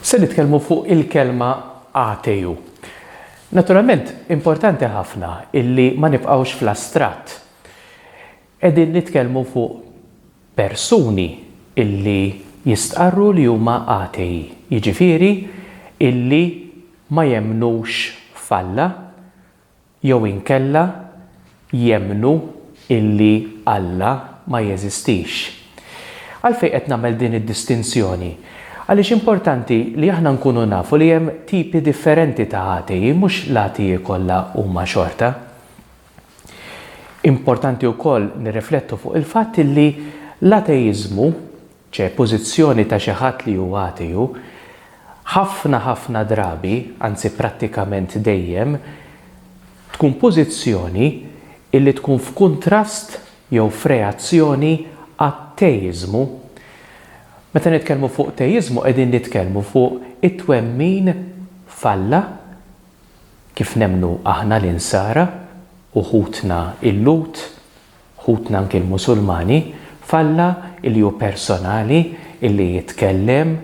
Se nitkellmu fuq il-kelma ateju. Naturalment, importanti ħafna illi ma nibqgħux fl-astratt. Qegħdin nitkellmu fuq persuni illi jistqarru li huma ateji, jiġifieri illi ma jemmnux f'Alla, Jew inkella jemmnu illi Alla ma jeżistix. Għalfejn qed nagħmel din id-distinzjoni? Għaliex importanti li aħna nkunu nafu li hemm tipi differenti ta' atei, mhux l-atei kollha huma xorta. Importanti wkoll nirriflettu fuq il-fatt illi l-ateiżmu, Ċe, pożizzjoni ta' xi ħadd li hu ateu, ħafna ħafna drabi, anzi prattikament dejjem, tkun pożizzjoni illi tkun f'kuntrast jew f'reazzjoni għat-teiżmu. Meta nitkellmu fuq teiżmu qegħdin nitkellmu fuq it-twemmin f'Alla, kif nemmnu aħna l-Insara u ħutna l-Lhud, Ħutna anki l-Musulmani, f'Alla li hu personali, illi jitkellem,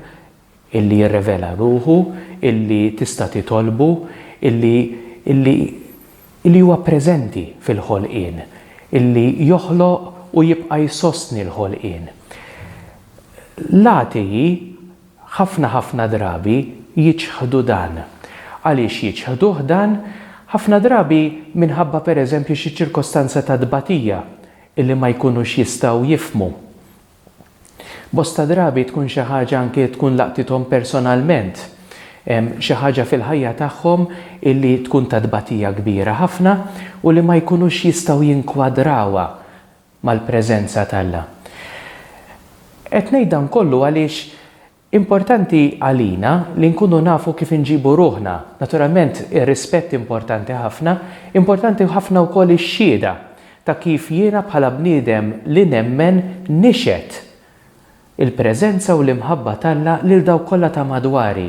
illi jirrevela ruħu, illi tista' titolbu, illi, illi, illi huwa preżenti fil-ħolqien, illi joħloq u jibqa' jsostni l-ħolqien. L-atei Ħafna ħafna drabi jiċħdu dan. Għaliex jiċħduh dan? Ħafna drabi minħabba per eżempju xi ċirkostanza ta' tbatija illi ma jkunux jistgħu jifhmu. Bosta drabi tkun xi ħaġa anke tkun laqtithom personalment. Xi ħaġa fil-ħajja tagħhom illi tkun ta' tbatija kbira ħafna u li ma jkunux jistgħu jinkwadrawha mal-preżenza t'Alla. Qed ngħid dan kollu għaliex importanti għalina li nkunu nafu kif inġibu ruħna. Naturalment ir-rispett importanti ħafna, importanti ħafna wkoll ix-xhieda ta' kif jiena bħala bniedem li nemmen nixhed. Il-preżenza u l-imħabba t'Alla lil dawk kollha ta' madwari,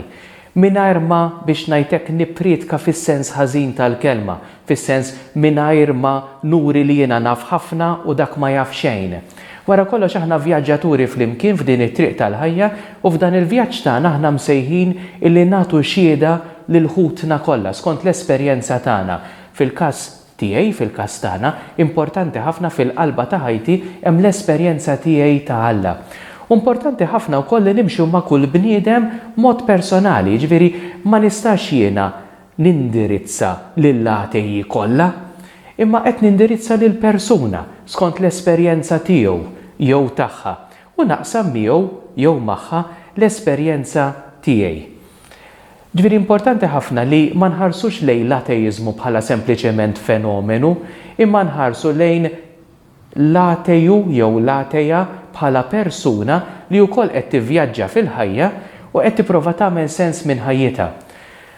mingħajr ma, biex ngħid hekk, nipprietka fis-sens ħażin tal-kelma, fis-sens mingħajr ma nuri li jiena naf ħafna u dak ma jaf xejn. Wara kollox aħna vjaġġaturi flimkien f'din it-triq tal-ħajja u f'dan il-vjaġġ tagħna aħna msejħin illi nagħtu xiehda lil ħutna kollha skont l-esperjenza tagħna, fil-każ, Tiegħi fil-każ tagħna, importanti ħafna fil-qalba ta' ħajti hemm l-esperjenza tiegħi ta' Alla. U importanti ħafna wkoll li nimxu ma' kull bniedem b'mod personali, jiġifieri ma nistax jiena nindirizza lill-għatejji kollha, imma qed nindirizza lil persuna skont l-esperjenza tiegħu jew tagħha u naqsam miegħu jew magħha l-esperjenza tiegħi. Ġifieri importanti ħafna li ma nħarsux lejn l-ateiżmu bħala sempliċement fenomenu, imma nħarsu lejn l-ateju jew l-atea bħala persuna li wkoll qed tivvjaġġa fil-ħajja u qed tipprova tagħmel sens minn ħajjitha.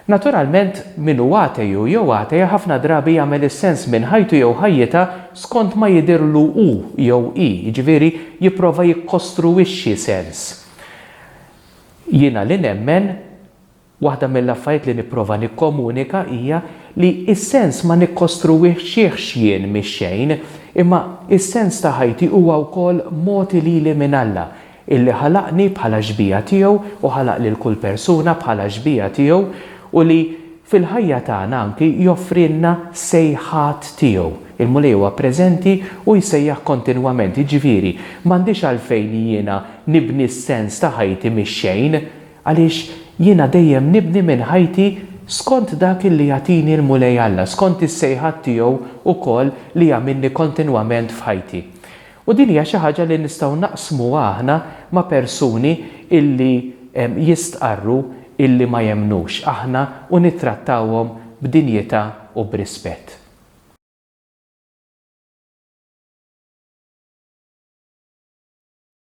Naturalment, min hu ateju jew atea ħafna drabi jagħmel is-sens minn ħajtu jew ħajjitha skont ma jidhirlu hu jew hi, jiġifieri jipprova jikkostruwixxi sens. Jiena li nemmen, waħda mill-affarijiet li nipprova nikkomunika hija li s-sens ma nikkostruwixxihx jien mix-xejn, imma s-sens ta' ħajti huwa wkoll mogħti lili minn Alla, illi ħalaqni bħala xbieha tiegħu u ħalaq lil kull persuna bħala xbieha tiegħu u li fil-ħajja tagħna anki joffrilna sejħat tiegħu. Il-Mulej huwa preżenti u jsejjaħ kontinwament, jiġifieri m'għandix għalfejn jiena Nibni s-sens ta' ħajti mix-xejn, għaliex jiena dejjem nibni minn ħajti skont dak li jagħtini l-Mulej Alla, skont is-sejħat tiegħu wkoll li jagħmilni kontinwament f'ħajti. U din hija xi ħaġa li nistgħu naqsmuha aħna ma' persuni illi jistqarru illi ma jemmnux aħna u nittrattawhom b'dinjità u b'rispett.